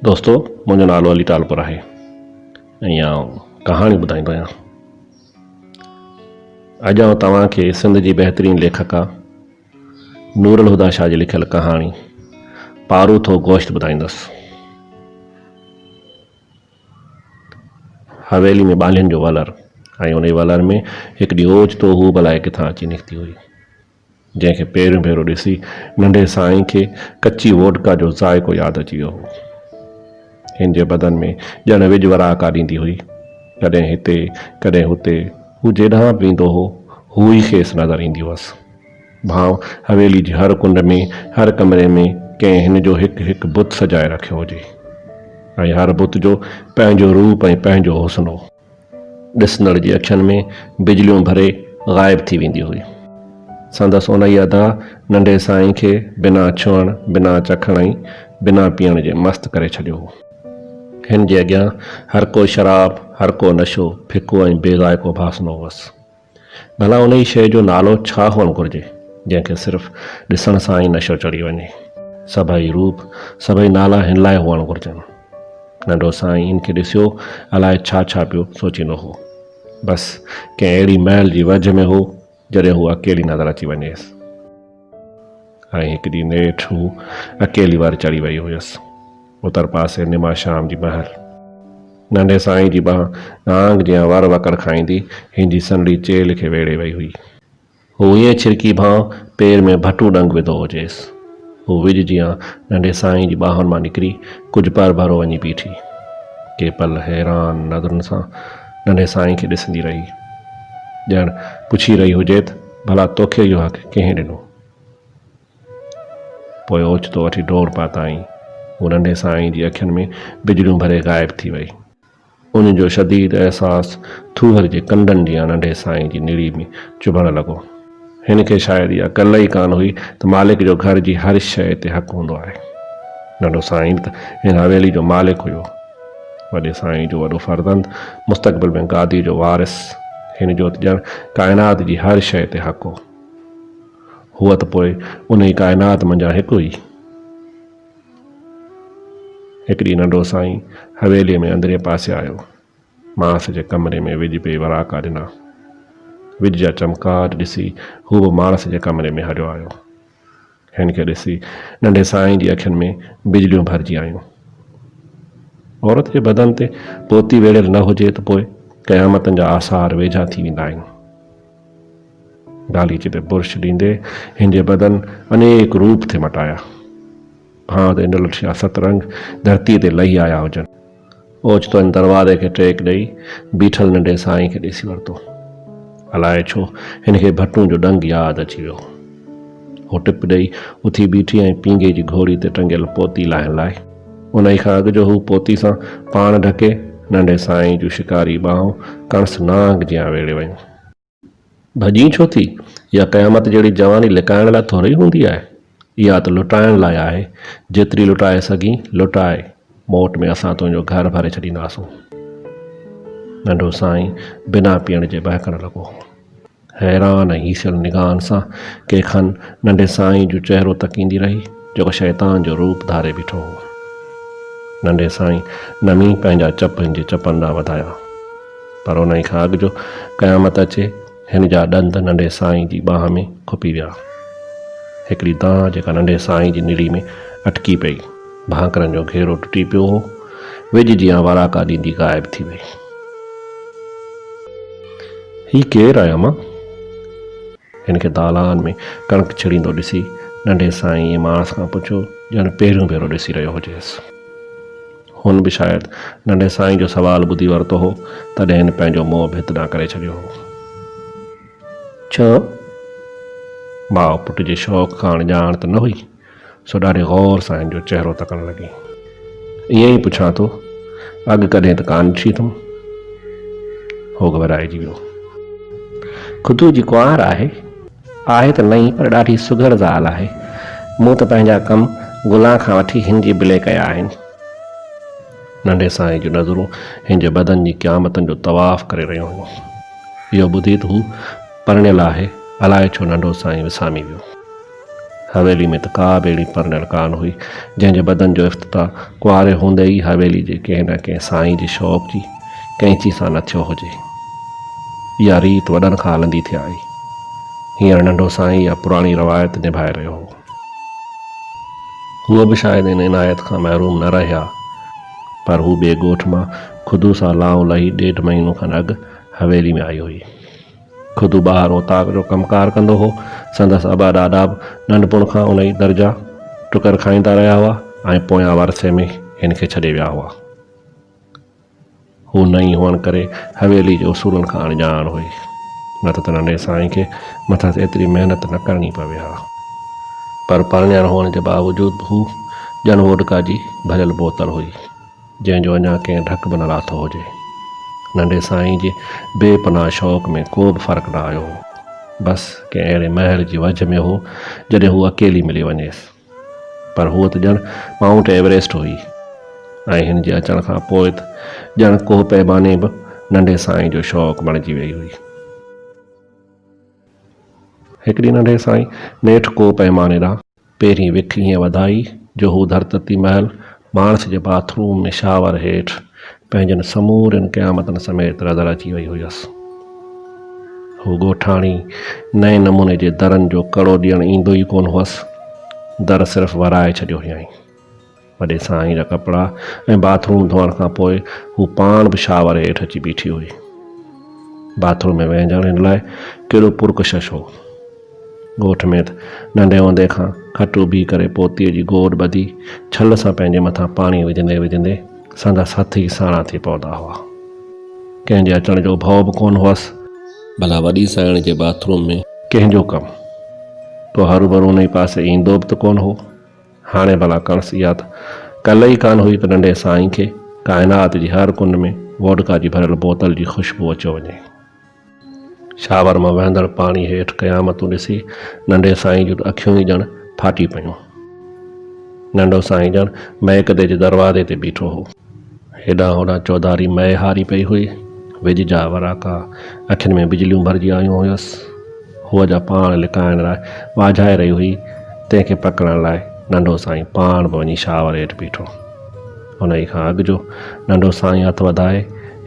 دوستو منهنجو نالو علي ٽالپر آهي ۽ آئون ڪهاڻي ٻڌائيندو آهيان. اڄ آئون توهان کي سنڌ جي بهترين ليکڪا نور الهديٰ شاهه جي لکيل ڪهاڻي پارو ٿو گوشت ٻڌائيندس. حويلي ۾ ٻانهين جو ولر ۽ انهي ولر ۾ هڪڙي اوچتو هوب الائي ڪٿان اچي نڪتي هئي. جنهن کي پهريون ڀيرو ڏسي ننڍي سائين کي ڪچي ووڊڪا جو ذائقو ياد اچي ويو هو. هن جي بدن ۾ ڄڻ وڄ وراڪا ڏيندي هئي. ڪڏهن هتي، ڪڏهن هتي، هو جيڏانهن به ويندو هو، هو ئي کيس نظر ايندي هئس. ڀانء حويلي جي هر ڪنڊ ۾، هر ڪمري ۾ ڪنهن هن جو هڪ هڪ بت سجائي رکيو هجي ۽ هر بت جو پنهنجو روپ ۽ پنهنجو حسن هو. ڏسندڙ جي اکين ۾ بجليون ڀري غائب ٿي ويندي هئي. سندس انهيء ادا ننڍي سائين کي بنا ڇهڻ، بنا چکڻ ۽ بنا پيئڻ جي مست ڪري ڇڏيو هو. هن جي اڳيان هر ڪو شراب، هر ڪو نشو، ڦڪو ۽ بي ذائقو ڀاسنو هوس. ڀلا انهيء شيء جو نالو ڇا هئڻ گهرجي، جنهن کي صرف ڏسڻ سان ئي نشو چڙهي وڃي؟ سڀئي روپ، سڀئي نالا هن لاء هئڻ گهرجن. ننڍو سائين هن کي ڏسيو الاء ڇا ڇا پيو سوچيندو هو. بس ڪنهن اهڙي محل جي ويجهه ۾ هو، جڏهن هوء اڪيلي نظر اچي وڃيس. ۽ هڪ ڏينهن نيٺ هو اڪيلي واري چڙهي ويئي هيس. اتر پاسي نما شام جي مهل ننڍي سائينء جي ٻانهن نانگ جيان ور وڪڙ کائيندي هن جي سنهڙي چيلهه کي ويڙهي ويئي هئي. هو ائين ڇرڪي ڀانء پير ۾ ڀٽو ڏنگ وڌو هجيس. هو وڄ جيان ننڍي سائينء جي ٻانهن مان نڪري ڪجهه پر ڀرو وڃي بيٺي. ڪي پل حيران نظرن سان ننڍي سائينء کي ڏسندي رهي. ڄڻ پڇي رهي هجيت. ڀلا توکي اهو حق ڪنهن ڏنو؟ پوء اوچتو وٺي ڊور پاتائين. هو ننڍي سائينء جي اکين ۾ بجليون ڀري غائب ٿي وئي. ان جو شديد احساس ٿوهر جي ڪنڊن جيان ننڍي سائينء جي نڙي ۾ چڀڻ لڳو. هن کي شايد اها ڪل ئي ڪانه هئي ته مالڪ جو گهر جي هر شيء تي حق هوندو آهي. ننڍو سائين به ته هن حويلي جو مالڪ هيو. وڏي سائين جو وڏو فرزند، مستقبل ۾ گاديء جو وارث، هن جو ته ڄڻ ڪائنات جي هر شيء تي حق هو. هو ته پوء انهيء ڪائنات منجهان هڪ هئي. هڪ ڏينهن ننڍو سائين حويليء ۾ اندرئين پاسي آيو. ماس جي ڪمري ۾ وڄ پئي وراڪا ڏنا. وڄ جا چمڪار ڏسي هو به ماس جي ڪمري ۾ هليو آيو. هن کي ڏسي ننڍي سائين جي اکين ۾ بجليون ڀرجي آيون. عورت جي بدن تي پوتي ويڙهيل نه هجي ته پوء قيامتن جا آثار ويجها ٿي ويندا آهن. گاليچي تي برش ڏيندي هن جي بدن انيڪ روپ ٿي مٽايا. ڀانء تي نلٺيا سترنگ ڌرتيء تي لهي آيا هجن. اوچتو هن دروازي کي ٽيڪ ڏئي بيٺل ننڍي سائين کي ڏسي ورتو. الاء ڇو هن کي ڀٽون جو ڏنگ ياد اچي ويو. هو ٽپ ڏئي اٿي بيٺي ۽ پينگهي جي گهوڙي تي ٽنگيل پوتي لاهڻ لاء. انهي کان اڳ جو هو پوتي سان پاڻ ڍڪي، ننڍي سائين جون شڪاري ٻانهون ڪڻس نانگ جيان ويڙهي ويون. ڀڄين ڇو ٿي؟ اها قيامت جهڙي جواني لڪائڻ لاء ٿورئي هوندي آهي. اها ته لٽائڻ لاء آهي. جيتري لٽائي سگهين، لٽاء. موٽ ۾ اسان تنهنجو گهر ڀري ڇڏينداسون. ننڍو سائين بنا پيئڻ جي ٻهڪڻ لڳو. حيران ۽ هيسيل نگاهن سان ڪي کن ننڍي سائين جو چهرو تڪيندي رهي، جيڪو شيطان جو روپ ڌاري بيٺو هو. ننڍي سائين نمي پنهنجا چپ هن جي چپن ڏانهن وڌايا. پر انهيء کان اڳ جو قيامت اچي، هن جا ڏند ننڍي سائينء جي ٻانهن ۾ کپي ويا. هڪڙي دانهن جيڪا ننڍي سائينء جي نڙي ۾ اٽڪي پئي، ڀانڪرن جو گهيرو ٽٽي پيو هو، ويڄ جيان وراڪا ڏيندي غائب ٿي وئي. هي ڪير آهي امان؟ هن کي دالان ۾ ڪڻڪ ڇيڙيندو ڏسي، ننڍي سائينء ماڻس کان پڇيو، ڄڻ پهريون ڀيرو ڏسي رهيو هجيس. هن به شايد ننڍي سائين جو سوال ٻڌي ورتو هو، تڏهن هن پنهنجو منهن ڀت ڏانهن ڪري ڇڏيو هو. ڇو؟ ماء پٽ جي شوق کان اڻڄاڻ ته نه هئي، سو ڏاڍي غور سان هن جو چهرو تڪڻ لڳي. ائين ئي پڇان ٿو، اڳ ڪڏهن ته ڪانه ڏٺي اٿم؟ هو گهٻرائجي ويو. خطوط جي ڪنوار آهي. آهي ته نئين پر ڏاڍي سگهڙ زال آهي. مون ته پنهنجا ڪم گلان کان وٺي هن جي بلي ڪيا آهن. ننڍي سائينء جون نظرون هن جي بدن جي قيامتن جو طواف ڪري رهيون هيون. اهو ٻڌي ته هو پرڻيل آهي، الائي ڇو ننڍو سائين وسامي ويو. حويلي ۾ ته ڪا به اهڙي پرڻيل ڪانه هئي، جنهن جي بدن جو افتتاح ڪنواري هوندي ئي حويلي جي ڪنهن نه ڪنهن سائين جي شوق جي ڪئنچي سان نه ٿيو هجي. اها ريت وڏن کان هلندي ٿي آئي. هينئر ننڍو سائين اها پراڻي روايت نڀائي رهيو هو. هو به شايد ان عنايت کان محروم نه رهي ها، پر هو ٻئي ڳوٺ مان خدو سان لانء لهي ڏيڍ مهينو کن اڳ حويلي ۾ آئي هئي. خدو ٻاهر اوطاق جو ڪم ڪار ڪندو هو. سندس ابا ڏاڏا به ننڍپڻ کان ان ئي در جا ٽڪر کائيندا رهيا هئا ۽ پويان ورثي ۾ هن کي ڇڏي ويا هئا. هو نئين هئڻ ڪري حويلي جي اصولن کان اڻڄاڻ هئي، نه ته ته ننڍي سائين کي مٿس ايتري محنت نه ڪرڻي پوي ها. پر پرڻيل هئڻ جي باوجود به هو ڄڻ ووڊڪا جي ڀريل بوتل هئي، جنهن جو اڃا ڪنهن ڍڪ به نه لاٿو هجي. ننڍي سائين جي بي پناهه شوق ۾ ڪو به فرق نه آيو هو. بس ڪنهن اهڙي مهل جي وجهه ۾ هو، جڏهن هو اڪيلي ملي وڃيس. پر هوء ته ڄڻ مائونٽ ايوريسٽ هئي ۽ هن جي اچڻ کان پوء ته ڄڻ ڪوهه پيماني به ننڍي سائينء جو شوق بڻجي ويئي هئي. هڪ ڏينهن ننڍي سائينء نيٺ ڪوهه پيماني ڏانهن پهرين وک ائين وڌائي جو هو ڌرتتي مهل ماڻس جي باٿ روم ۾ شاور هيٺ پنهنجن سمورين قيامتن سميت رڌل اچي وئي هيس. هو ڳوٺاڻي نئين نموني جي درن جو ڪڙو ڏيڻ ايندو ئي ڪونه هئس. در صرف ورائي ڇڏيو هيائين. وڏي سائين جا ڪپڙا ۽ باٿ روم ڌوئڻ کان پوء هو پاڻ به شاور هيٺ اچي بيٺي هئي. باٿ روم ۾ وهنجڻ هن لاء ڪيڏو پرڪشش هو. ڳوٺ ۾ ته ننڍي هوندي کان کٽو بيهه ڪري پوتيء جي گوڏ ٻڌي ڇل سان پنهنجي مٿان پاڻي وجهندي وجهندي سندس هٿ ئي ساڻا ٿي پوندا هئا. ڪنهن جي اچڻ جو ڀؤ به ڪونه هئس. ڀلا وڏي سائڻ جي باٿ روم ۾. ڪنهن جو ڪم؟ ڪو هروڀرو ان ئي پاسي ايندو به ته ڪونه هو. هاڻي ڀلا ڪڻس اها ته ڪل ئي ڪانه هئي ته ننڍي سائين کي ڪائنات جي هر ڪنڊ ۾ ووڊڪا جي ڀريل بوتل جي خوشبو اچيو وڃي. شاور مان وهندڙ پاڻي هيٺ قيامتون ڏسي ننڍي سائين جون اکيون ئي ڄڻ ڦاٽي پيون. ننڍو سائين ڄڻ مئڪدي جي دروازي تي بيٺو هو. هيڏانهن هوڏانهن چوڌاري مئي هاري پئي هئي. وڄ جا وراڪا، اکين ۾ بجليون ڀرجي آيون هيس. هوء جا پاڻ لڪائڻ لاء واجهائي رهي هئي، تنهن کي پڪڙڻ لاء ننڍو سائين پاڻ به وڃي شاور هيٺ بيٺو. انهيء کان اڳ جو ننڍو سائين هٿ وڌائي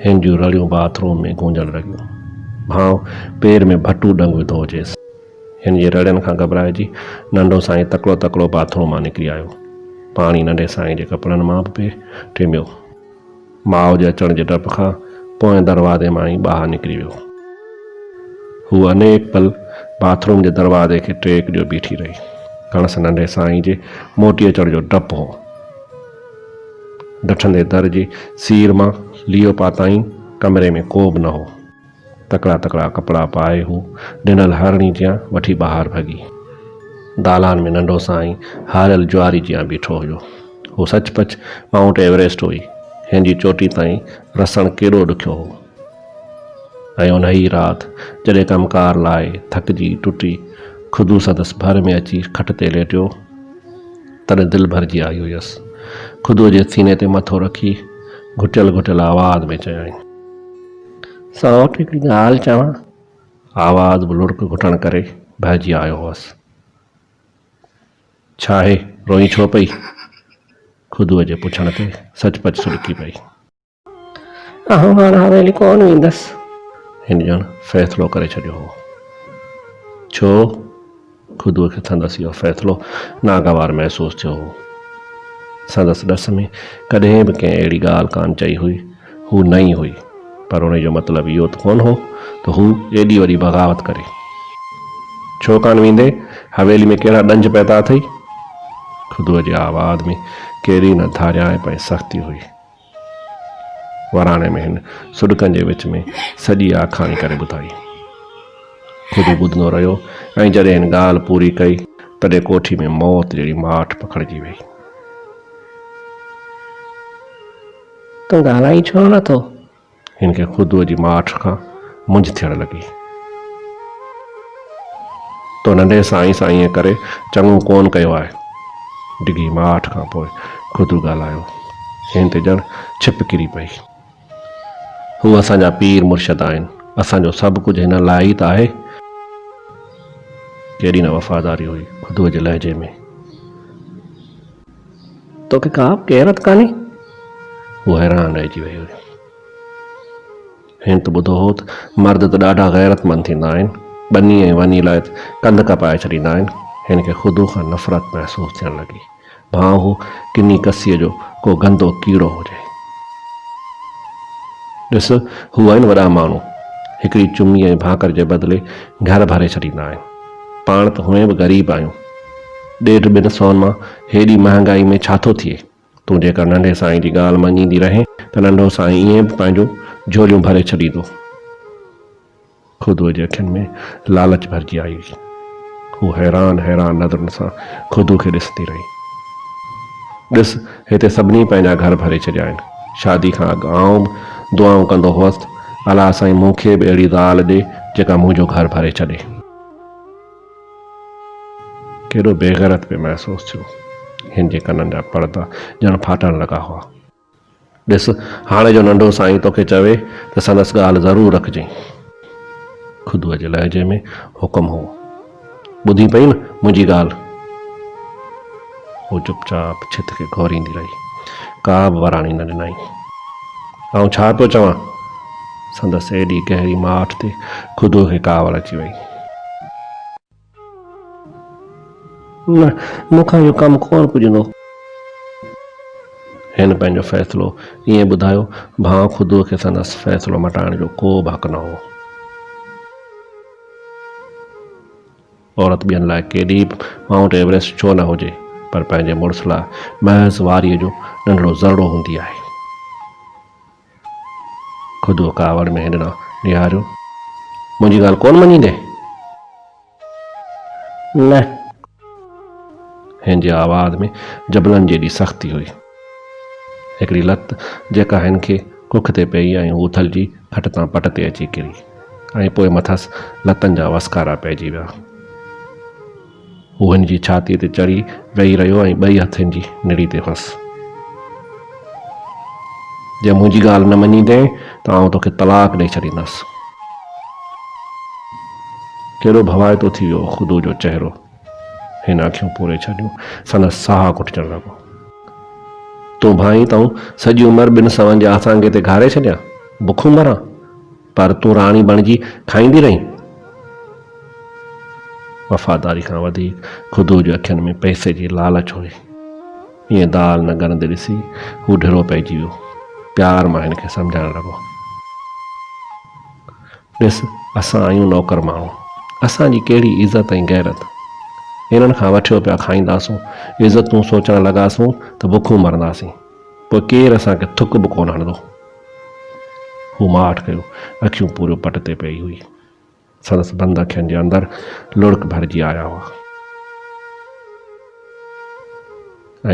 هن جون رڙيون باٿ روم ۾ گونجڻ لڳيون. ڀانء پير ۾ ڀٽو ڏنگ وڌو هجيس. هن جي رڙين کان گهٻرائجي ننڍو سائين تڪڙو تڪڙو باٿ روم مان نڪري آيو. پاڻي ننڍي سائين جي ڪپڙن مان به پئي ٽميو. ماء جي اچڻ جي ڊپ کان پوئين دروازي مان ئي ٻاهر نڪري ويو. هوء انيڪ پل باٿ روم جي دروازي کي ٽيڪ ڏيو بيٺي رهي. کڻس ننڍي سائين جي موٽي اچڻ جو ڊپ هو. ڊٺندي در جي سير مان ليئو پاتائين، ڪمري ۾ ڪو به نه هو. تڪڙا تڪڙا ڪپڙا پائي هو ڊنل هارڻي جيان وٺي ٻاهر ڀڳي. دالان ۾ ننڍو سائين هاريل جواري جيان بيٺو هيو. هو سچ پچ مائونٽ ايوريسٽ هئي. هن جي چوٽي تائين رسڻ ڪيڏو ڏکيو هو. ۽ انهيء رات جڏهن ڪم ڪار لائي ٿڪجي ٽٽي خدو سندس ڀر ۾ اچي کٽ تي ليٽيو، تڏهن دل ڀرجي آئي هيس. خدوء جي سيني تي مٿو رکي گهٽيل گهٽيل آواز ۾ چيائين. سائوٽ هڪڙي ڳالهه چوان. آواز به لڙڪ گهٽڻ ڪري ڀرجي آيو هوس. ڇاهي روئين ڇو پئي؟ خدوء جي پڇڻ تي سچ پچ سڏڪي پئي. آئون هاڻ حويلي ڪونه ويندس. هن ڄڻ فيصلو ڪري ڇڏيو هو. ڇو؟ خدوء کي سندس اهو فيصلو ناگوار محسوس ٿيو هو. سندس ڏس ۾ ڪڏهن به ڪنهن اهڙي ڳالهه ڪانه چئي هئي. هو نئين هئي، پر ان جو مطلب اهو ته ڪونه هو ته هو ايڏي وڏي بغاوت ڪري. ڇو ڪانه ويندي؟ حويلي ۾ ڪهڙا ڏنج پيدا اٿئي؟ خدوء جي آواز ۾ ڪهڙي نه ڌاريائپ ۽ سختي هئي. وراڻي ۾ هن سڏڪن جي وچ ۾ سڄي آکاڻي ڪري ٻڌائي. خود ٻڌندو رهيو ۽ جڏهن هن ڳالهه پوري ڪئي تڏهن ڪوٺي ۾ موت جهڙي ماٺ پکڙجي ويئي. تون ڳالهائين ڇو نٿو؟ هن کي خدوء جي ماٺ کان مونجهه ٿيڻ لڳي. تو ننڍي سائين سان ائين ڪري چڱو ڪونه ڪيو آهي. ڊگهي ماٺ کان پوء خدو ڳالهايو. هن تي ڄڻ ڇپ ڪري پئي. هو اسان جا پير مرشد آهن. اسان جو سڀ ڪجهه هنن لاء ئي ته آهي. ڪيڏي نه وفاداري هئي خدوء جي لهجي ۾. توکي ڪابه غيرت ڪانهي؟ هو حيران رهجي ويئي. هن ته ٻڌو هو ته مرد ته ڏاڍا غيرتمند ٿيندا آهن، ٻني ۽ وني لاء ته ڪنڌ ڪپائي ڇڏيندا آهن. هن کي خدو کان نفرت محسوس ٿيڻ لڳي، ڀانء هو ڪني ڪسيء جو ڪو گندو ڪيڙو هجي. ڏس، هو آهن وڏا ماڻهو، هڪڙي چمي ۽ ڀانڪر جي بدلي گهر ڀري ڇڏيندا آهن. پاڻ ته هونئن به غريب آهيون. ڏيڍ ٻن سون مان هيڏي مهانگائي ۾ ڇا ٿو ٿئي؟ تون جيڪر ننڍي سائين جي ڳالهه مڃيندي رهين ته ننڍو سائين ائين به پنهنجون جهوليون ڀري ڇڏيندو. خدوء جي اکين ۾ لالچ ڀرجي آئي هئي. هوء حيران حيران نظرن سان خدوء کي ڏسندي رهي. ڏس، هتي سڀني پنهنجا گهر ڀري ڇڏيا آهن. شادي کان اڳ آئون به دعائون ڪندو هوس ته الا سائين مون کي به اهڙي زال ڏي جيڪا منهنجو گهر ڀري ڇڏي. ڪيڏو بيغيرت پئي محسوس ٿيو. هن جي ڪنن جا پڙدا ڄڻ ڦاٽڻ لڳا هئا. ڏس، هاڻي جو ننڍو سائين توکي چوي ته سندس ڳالهه ضرور رکجئين. خدوء جي لهجي ۾ حڪم هو. ٻڌين پئين نه منهنجي ڳالهه؟ هوء چپ چاپ ڇت کي گهوريندي رهي. ڪا به وراڻي نه ڏنائين. آئون ڇا پيو چوان؟ سندس ايڏي گهري ماٺ تي خودو کي ڪاوڙ اچي وئي. نه، مون کان اهو ڪم ڪونه پڄندو. هن پنهنجو فيصلو ائين ٻڌايو ڀانء خودو کي سندس فيصلو مٽائڻ جو ڪو به حق نه هو. عورت ٻين لاء ڪيڏي به مائونٽ ايوريسٽ ڇو نه هجي پر پنهنجي مڙس لاء محض واريء جو ننڍڙو ذرڙو هوندي آهي. خدو ڪاوڙ ۾ هن ڏانهن نهاريو. منهنجي ڳالهه ڪونه مڃيندين؟ نه. هن جي آواز ۾ جبلن جيڏي سختي هئي. هڪڙي لت جيڪا هن کي ڪک تي پيئي ۽ هو اٿلجي کٽ تان پٽ تي اچي ڪري ۽ پوء مٿس لتن جا وسڪارا پئجي ويا. هو هن جي ڇاتيء تي چڙهي ويهي رهيو ۽ ٻئي هٿ هن جي نڙي تي هنس. جي منهنجي ڳالهه نه مڃيندين ته آئون توکي طلاق ڏئي ڇڏيندس. ڪيڏو ڀوائتو ٿي ويو خدو جو چهرو. هن اکيون پوري ڇڏيون. سندس ساهه گهٽجڻ لڳو. تون ڀانئين ته آئون سڄي عمر ٻن سون جي آسانگي تي گهاري ڇڏيان، بکون مران، پر تون راڻي بڻجي کائيندي رهين. وفاداري کان وڌيڪ خدوء جي اکين ۾ پئسي جي لالچ هئي. ايئن دال نه ڳرندي ڏسي هو ڍرو پئجي ويو. پيار مان هن کي سمجهائڻ لڳو. ڏس اسان آهيون نوڪر ماڻهو، اسان جي ڪهڙي عزت ۽ غيرت، هنن کان وٺيو پيا کائينداسون، عزتون سوچڻ لڳاسون ته بکون مرنداسين، پوء ڪير اسان کي ٿڪ به ڪونه هڻندو. هو ماٺ ڪيو، اکيون پوريون پٽ تي پيئي هئي، سندس بند اکين جي اندر لڙڪ ڀرجي آيا هئا.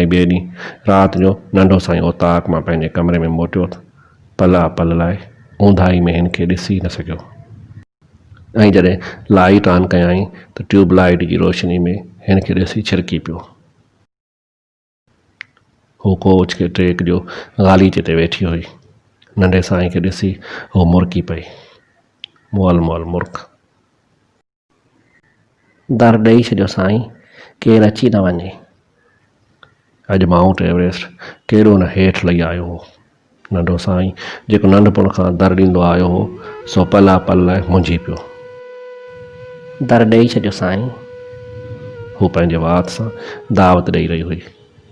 ۽ ٻئي ڏينهن رات جو ننڍو سائين اوطاق مان پنهنجي ڪمري ۾ موٽيو ته. پلا پل لاء اونداهي ۾ هن کي ڏسي نه سگهيو ۽ جڏهن لائيٽ آن ڪيائين ته ٽيوب لائيٽ جي روشني ۾ هن کي ڏسي ڇرڪي پيو. هوء ڪوچ کي ٽريڪ جو غاليچي تي ويٺي هئي. ننڍي سائين کي ڏسي هوء مرڪي پئي. مئل مئل مرڪ. در ڏئي ڇڏيو سائين ڪير اچي نه وڃي. اڄ مائونٽ ايوريسٽ ڪيڏو نه هيٺ لهي آيو هو. ننڍو سائين جيڪو ننڍپڻ کان در ڏيندو آيو هو سو پلا پل لاء منجهي پيو. در ڏئي ڇڏيو سائين. هوء پنهنجي وات سان دعوت ڏئي رهي هئي.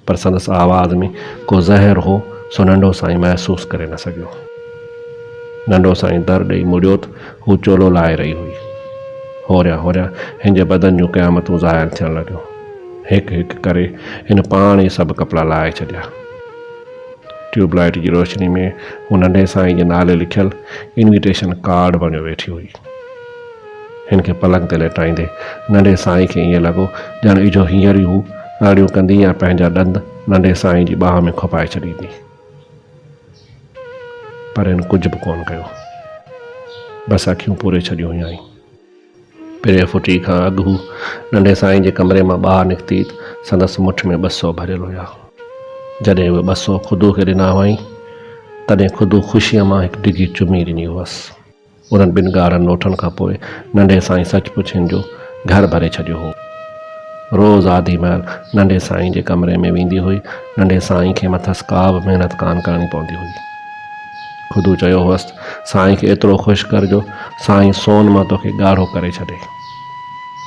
پر سندس آواز ۾ ڪو زهر هو، سو ننڍو سائين محسوس ڪري نه سگهيو. ننڍو سائين در ڏئي مڙيوت هو چولو لاهي رهي هئي. هوريان هوريان هن جي بدن جون قيامتون زاهر ٿيڻ لڳيون. هڪ هڪ ڪري هن پاڻ ئي سڀ ڪپڙا لاهي ڇڏيا. ٽيوب لائيٽ جي روشني ۾ هو ننڍي سائين جي نالي لکيل انويٽيشن ڪارڊ بڻيو ويٺي هئي. هن کي پلنگ تي ليٽائيندي ننڍي سائينء کي ائين لڳو ڄڻ اجهو هينئر ئي هو رڙيون ڪندي ۽ پنهنجا ڏند ننڍي سائينء جي ٻانهن ۾ کوپائي ڇڏيندي. پر هن ڪجهه به ڪونه ڪيو. بس اکيون پوري ڇڏيون هيائين. پرينء ڦٽي کان اڳ هو ننڍي سائينء جي ڪمري مان ٻاهر نڪتي ته سندس مٺ ۾ ٻه سؤ ڀريل هيا. جڏهن اهي ٻه سؤ خدوء کي ڏنا هئائين، تڏهن خدوء خوشيء مان هڪ ڊگهي چمي ڏني هئس. انهن ٻن ڳاڙهن نوٽن کان پوء ننڍي سائين سچ پچ هن جو گهر ڀري ڇڏيو هو. روز آڌي مهل ننڍي سائين جي ڪمري ۾ ويندي هئي. ننڍي سائين کي مٿس ڪا به محنت ڪانه ڪرڻي پوندي هئي. خدو چيو هئس ته سائين کي ايترو خوش ڪر جو سائين سون مان توکي ڳاڙهو ڪري ڇڏي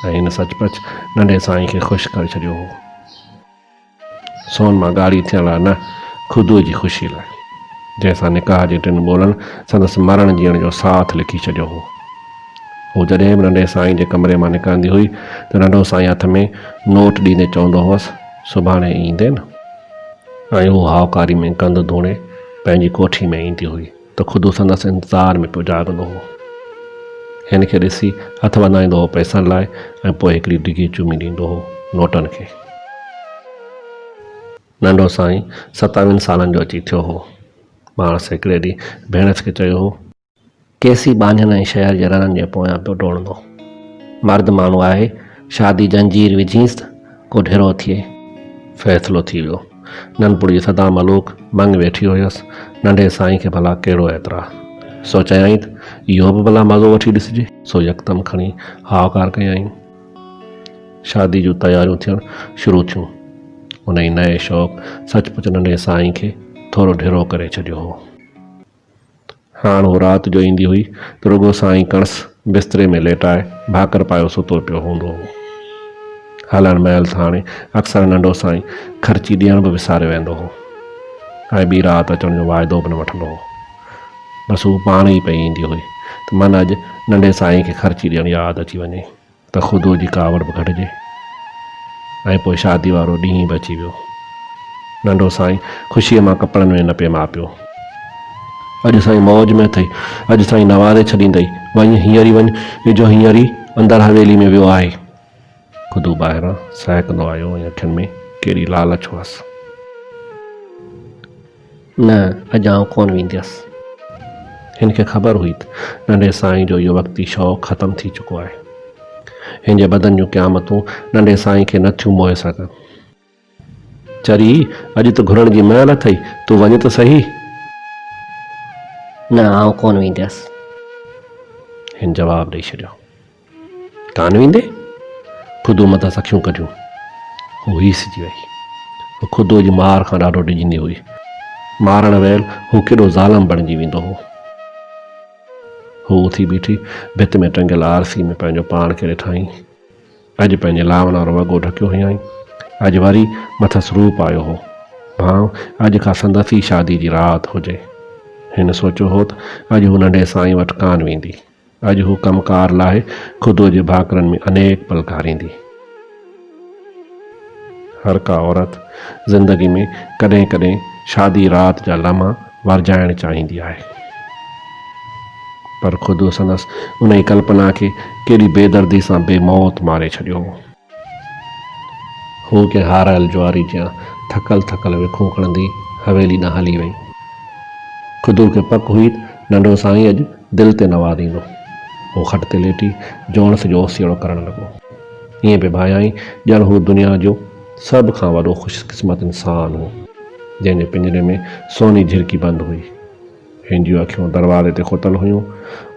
۽ هن سچ پچ ننڍي سائين کي خوش ڪري ڇڏيو هو. سون مان ڳاڙهي ٿيڻ لاء نه، خدوء جي خوشيء لاء، جنهن سان نڪاح جي ٽن ٻولن سندس مرڻ جيئڻ جو ساٿ لکي ڇڏيو هو. هو جڏهن به ننڍي سائين جي ڪمري مان نڪرندي هئي ته ننڍو سائين هٿ ۾ نوٽ ڏيندي چوندو هوس، سڀاڻي ايندين؟ ۽ هوء هائوڪاري ۾ ڪنڌ ڌوڻي پنهنجي ڪوٺي ۾ ايندي هئي. ته خود هو سندس انتظار ۾ پيو جاڳندو هو. هن کي ڏسي هٿ وڌائيندو هو پئسن لاء ۽ پوء هڪڙي ڊگهي چمي ڏيندو هو نوٽن کي. ننڍو سائين ستاويهن سالن جو اچي ٿيو هو. ماڻس هڪڙي ڏينهن ڀيڻس کي چيو هو. ڪيسي ٻانهين ۽ شهر جي رنن جي پويان پيو ڊوڙندو. مرد ماڻهو آهي، شادي جنجير وجهينس ته ڪو ڍرو ٿئي. فيصلو ٿي ويو. ننپور جي سدا ملوڪ ڀنگ ويٺي هيس، ننڍي سائين کي ڀلا ڪهڙو اعتراض؟ سو چيائين ته اهو به ڀلا مزو وٺي ڏسجي. سو يڪدم کڻي هائوڪار ڪيائين. شاديء جون تياريون ٿيڻ شروع ٿيون. انهيء نئين شوق سچ پچ ننڍي سائين کي ٿورو ڍرو ڪري ڇڏيو هو. هاڻ هو رات جو ايندي هئي ته رڳو سائين ڪڻس بستري ۾ ليٽائي ڀاڪر پايو ستو پيو هوندو هو. هلڻ مهل ساڻي اڪثر ننڍو سائين خرچي ڏيڻ به وساري ويندو هو ۽ ٻي رات اچڻ جو واعدو به نه وٺندو هو. بس هوء پاڻ ئي پئي ايندي هئي ته من اڄ ننڍي سائين کي خرچي ڏيڻ ياد اچي وڃي. ته خدوء جي ڪاوڙ به گهٽجي ۽ پوء شاديء وارو ڏينهن به اچي ويو. ننڍو سائين خوشيء مان ڪپڙن ۾ نه پئي ماء پيو. اڄ سائين موج ۾ اٿئي، اڄ سائين نوازي ڇڏيندئي، وڃ هينئر ئي وڃ، جو هينئر ئي اندر حويلي ۾ ويو آهي. خدو ٻاهران سهڪندو آيو ۽ اکين ۾ ڪهڙي لالچ هئس. نه، اڄ آئون ڪونه وينديس. هن کي خبر هئي ته ننڍي سائين جو اهو وقتي شوق ختم ٿي چڪو آهي. هن جي بدن جون قيامتون ننڍي سائين کي نه ٿيون موهي سگهن. چري، اڄ ته گهرڻ جي مهل اٿئي، تون وڃ ته سهي. نه، آئون ڪونه وينديس. هن جواب ڏئي ڇڏيو. ڪانه ويندي؟ خدو متان سان اکيون ڪڍيون. هوء هيسجي ويئي. هوء خدو جي مار کان ڏاڍو ڊڄندي هئي. مارڻ ويل هو ڪيڏو ظالم بڻجي ويندو هو. هوء اٿي بيٺي ڀت ۾ ٽنگيل آرسي ۾ پنهنجو پاڻ کي ڏٺائين. اڄ پنهنجي لانئن وارو وڳو ڍڪيو هيائين. اڄ وري مٿس روپ آيو هو. ڀانء اڄ کان سندس ئي شاديء جي رات هجي. هن سوچيو هو ته اڄ هوء ننڍي سائين وٽ ڪانه ويندي. اڄ هو ڪم ڪار لاء خدوء جي ڀاڪرن ۾ انيڪ پل گهاريندي. هر ڪا عورت زندگي ۾ ڪڏهن ڪڏهن شادي رات جا لمحا ورجائڻ چاهيندي آهي. پر خدوء سندس انهيء ڪلپنا کي ڪيڏي بيدردي سان بي موت ماري ڇڏيو هو. هوء ڪنهن هارايل جواري جيان ٿڪل ٿڪل وکون کڻندي حويلي ڏانهن هلي ويئي. خدو کي پڪ هئي ته ننڍو سائين اڄ دل تي نوازيندو. هو کٽ تي ليٽي جوڻس جو اوسيئڙو ڪرڻ لڳو. ائين پئي ڀانيائين ڄڻ هو دنيا جو سڀ کان وڏو خوش قسمت انسان هو، جنهن جي پڃري ۾ سوني جهرڪي بند هئي. هن جون اکيون دروازي تي کتل هيون.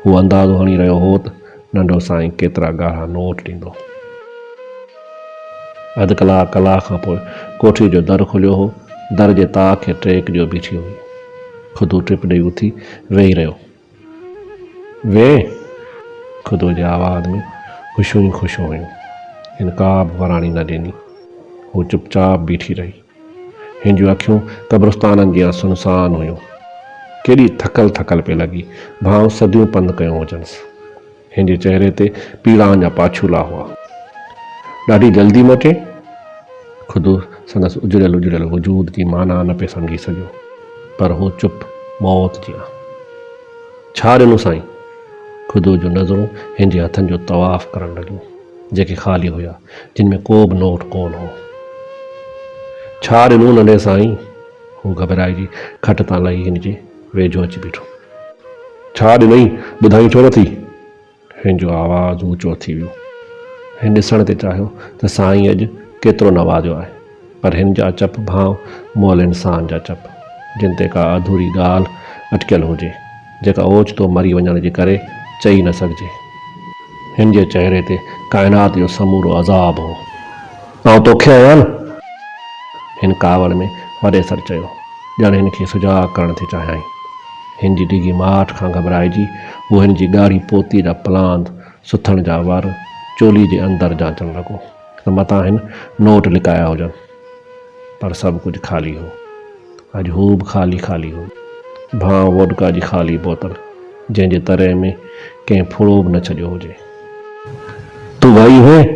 هو اندازو هڻي رهيو هوت ننڍو سائين ڪيترا ڳاڙها نوٽ ڏيندو. اڌ ڪلاڪ ڪلاڪ کان پوء ڪوٺيء جو در کليو هو. در جي تاء کي ٽيڪ ڏيو بيٺي هئي. خدو ٽپ ڏيئي اٿي ويهي رهيو. ويهه! خدو جي آواز ۾ خوشيون ئي خوشيون هيون. هن ڪابه وراڻي نه ڏني. هو چپ چاپ بيٺي رهي. هن جون اکيون قبرستانن جيان سنسان هيون. ڪيڏي ٿڪل ٿڪل پئي لڳي، ڀانئون صديون پنڌ ڪيو هجنس. هن جي چهري تي پيڙائن جا پاڇولا هئا. ڏاڍي جلدي موٽي؟ خود سندس اجڙيل اجڙيل وجود جي معنيٰ نه پئي سمجهي سگهيو، پر هو چپ موت جيان. ڇا ڏنو سائين؟ خود جون نظرون هن جي هٿن جو طواف ڪرڻ لڳيون. جيڪي خالي هيا جن ۾ ڪو به نوٽ ڪونه هو. ڇا ڏنو ننڍي سائين؟ هو گهٻرائجي کٽ تان لهي هن جي ويجهو اچي بيٺو. ڇا ڏنئين؟ ٻڌائين ڇو نٿي؟ هن جو آواز اوچو ٿي ويو. هن ڏسڻ تي چاهيو ته سائين اڄ ڪيترو نوازيو آهي. پر هن جا چپ ڀانء مئل انسان جا چپ، جن تي ڪا اڌوري ڳالهه اٽڪيل هجي، جيڪا اوچتو مري وڃڻ جي ڪري چئي نه سگهجي. هن جي چهري تي ڪائنات جو سمورو عذاب هو. آئون توکي آهيان نه؟ هن ڪاوڙ ۾ وڏي سر چيو، ڄڻ هن کي سجاڳ ڪرڻ ٿي چاهيائين. هن جي ڊگهي ماٺ کان گهٻرائجي، هو هن جي ڳاڙهي پوتي جا پلاند، سٿڻ جا ور، چولي جي اندر جانچڻ لڳو. ته متان هن نوٽ لڪايا هجن. پر سڀ ڪجهه خالي هو. اڄ هو به خالي خالي هو. ڀانء ووڊڪا جي خالي بوتل، جنهن جي تري ۾ ڪنهن ڦڙو به نه ڇڏيو هجي. تون ويئي هئين؟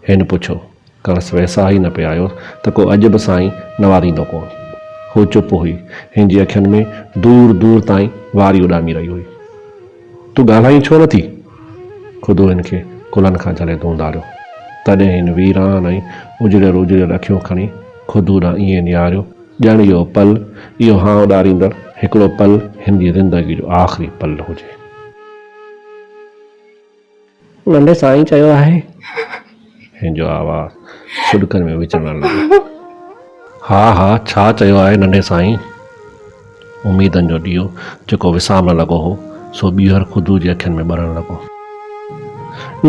هن پڇيو. کڻس ويساهه ئي نه پئي آيو ته ڪو اڄ به سائين نواريندو ڪونه. هو چپ هئي. هن جي اکين ۾ دور دور تائين واري اڏامي رهي هئي. تون ڳالهائين ڇو نه ٿي؟ خدو هن کي ڪلهن کان جهلي ڌونڌاريو. تڏهن هن ويران ۽ اجڙيل اجڙيل اکيون کڻي خدو ڏانهن ائين نهاريو ڄڻ اهو پل، اهو هانء ڏاريندڙ هڪڙو پل هن جي زندگيء جو آخري پل هجي. ننڍي سائين چيو آهي. هن جو آواز سڏڪن ۾ وچڙڻ لڳو. ها ها ڇا چيو آهي ننڍي سائين؟ اميدن جو ڏيئو جيڪو وسامڻ لڳو هو سو ٻيهر خدو جي اکين ۾ ٻرڻ لڳو.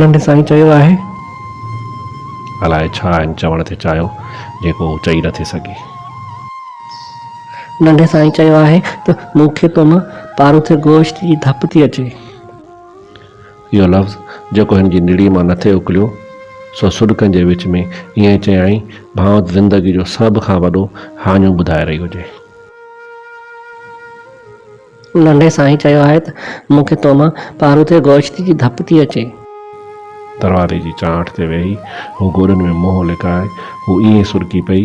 ننڍي سائين چيو آهي. الاء ڇا هن چوڻ تي چاهيو جيڪو هو چئي نٿي سگهي. ننڍي سائين چيو آهي ته مون کي تو مان پاروٿي گوشت جي ڌپ ٿي اچي. اهو لفظ جيڪو هن جي نڙيء مان نٿي اڪليو، سو سڏڪن جي وچ ۾ ائين چيائين، ڀانئت زندگيء جو سڀ کان وڏو هاڃو ٻڌائي رهي هجي. ننڍي سائينء چيو آهي ته مون کي تو مان پاروٿي گوشت جي ڌپ ٿي اچي. دروازي جي چانئٺ تي ويهي هو گوڏن ۾ منهن لڪائي هو ائين سرڪي پئي،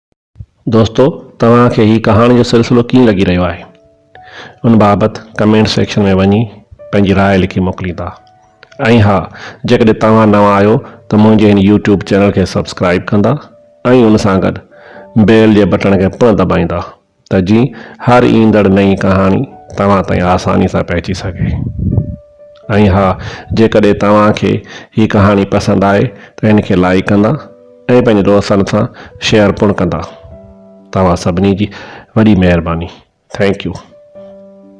دوستو توهان کي هي ڪهاڻي جو سلسلو ڪيئن لڳي رهيو آهي ان بابت ڪمينٽ سيڪشن ۾ وڃي پنهنجي راء لکي موڪليندا ۽ ها جيڪڏهن توهان نوان آهيو ته منهنجي هن يوٽيوب چينل کي سبسڪرائب ڪندا ۽ ان سان گڏ بيل جي بٽڻ کي پڻ دٻائيندا ته جيئن هر ايندڙ نئين ڪهاڻي توهان تائين آساني سان پهچي سگهي ۽ ها جيڪڏهن توهان کي هي ڪهاڻي پسند آئي ته هن کي لائيڪ ڪندا ۽ پنهنجي دوستن سان شيئر پڻ ڪندا توهان سڀني جي وڏي مهرباني ٿينڪ يو.